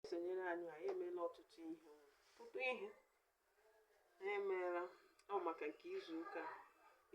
esonyere anyị anyị emeela ọtụtụ ihe ọtụtụ ihe anyị emeela ọ maka nke izuụka a.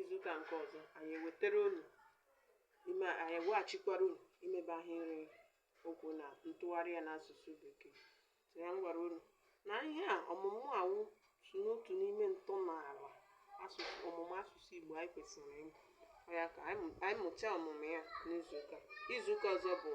izuụka nke ọzọ anyị ewetara unu ime anyị eweghachikwara unu imebe ahịrị okwu na ntụgharị ya n'asụsụ bekee so ya m gwara unu na ihe a ọmụmụ a wụ so n'otu n'ime ntọala asụsụ ọmụmụ asụsụ Igbo anyị kwesịrị ịmụ Ọ ya ka anyị mụ- anyị mụchaa ọmụmụ ya n'izuụka izuụka ọzọ bụ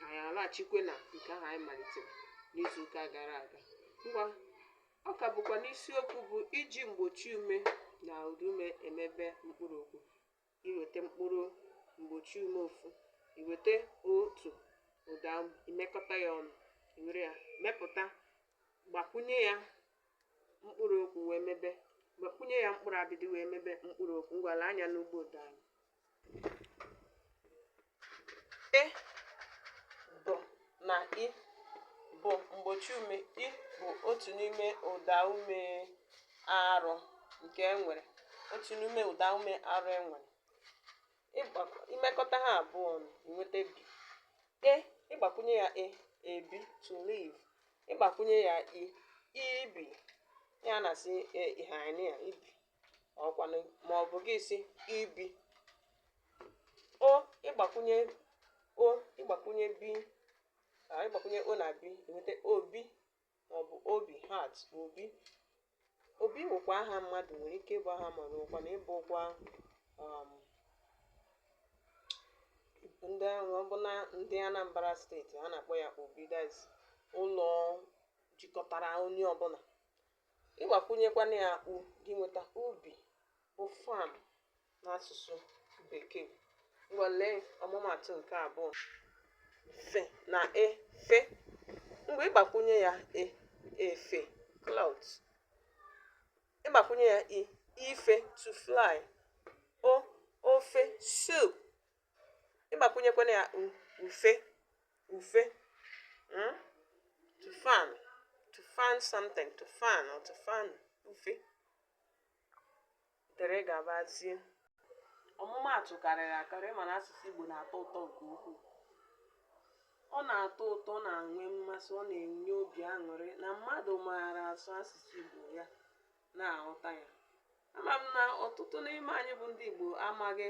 anyị alaghachikwe na nke ahụ anyị malitere n'izuụka gara aga ngwa ọ ka bụkwa n'isiokwu bụ iji mgbochi ume na ụdaume emebe mkpụrụ okwu iweta mkpụrụ mgbochi ume ofu iweta otu ụda imekọta ya ọnụ iwere ya mepụta gbakwunye ya mkpụrụ okwu wee mebe gbakwunye ya mkpụrụ abịdị wee mebe mkpụrụ okwu ngwa lee anya n'ụgbọ ụda anyị na i bụ mgbochi ume i bụ otu n'ime ụda ume arụ nke e nwere otu n'ime ụda ume arụ e nwere imekọta ha abụọ ọnụ inweta bi e ịgbakwunye ya e ebi to live ịgbakwunye ya i ibi ya na-asị e, ihe anyị ibi ọkwanụ ma ọ bụ gị si ibi o ịgbakwunye o ịgbakwunye bi ka ịgbakwunye o na bi enweta obi ma ọ bụ obi heart obi obi wụkwa aha mmadụ nwere ike ịbụ aha mmadụ nwekwana ịbụkwa um, ndị ahụ ọ bụ na ndị Anambra steeti a na-akpọ ya obi that's ụlọ jikọtara onye ọbụla ịgbakwunyekwana ya u gị nweta ubi bụ farm n'asụsụ bekee ngwa lee ọmụmatụ nke abụọ f na e fe ngwa ịgbakwunye ya e efe cloth ịgbakwunye ya i ife to fly o ofe soup ịgbakwunyekwana ya ufe ufe hmm? to fan to fan something to fan or to fan ufe dere gabazie ọmụmaatụ karịrị akarị mana asụsụ Igbo na-atọ ụtọ nke ukwuu ọ na-atọ ụtọ na-enwe mmasị ọ na-enye obi aṅụrị na mmadụ maara asụ asụsụ Igbo ya na-aghọta ya ama m na ọtụtụ n'ime anyị bụ ndị Igbo amaghị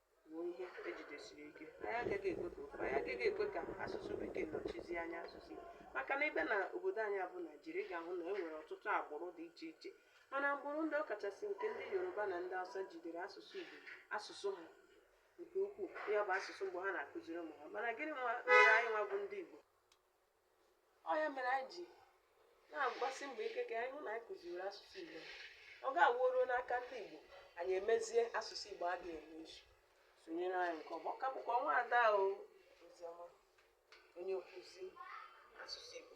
wụ nke ejidesiri ike anyị agaghị ekwe ka ofe anyị agaghị ekwe ka asụsụ bekee nọchizie anya asụsụ Igbo. maka na ị bịa na obodo anyị a bụ naijiria ị ga-ahụ na e nwere ọtụtụ agbụrụ dị iche iche mana agbụrụ ndị a ọkachasị nke ndị yoruba na ndị hausa jidere asụsụ igbo asụsụ ha nke ukwuu ya bụ asụsụ mbụ ha na-akụziri ụmụ ha mana gịnị nwa mere anyị nwa bụ ndị igbo ọ ya mere anyị ji na-agbasi mbọ ike ka anyị hụ na anyị kụziri asụsụ Igbo ọ ga-awụ ruo n'aka ndị Igbo anyị emezie asụsụ Igbo a ga-emezi sonyere anyị nke ọma ọ ka bụkwa nwaada Oziọma onye nkụzi asụsụ Igbo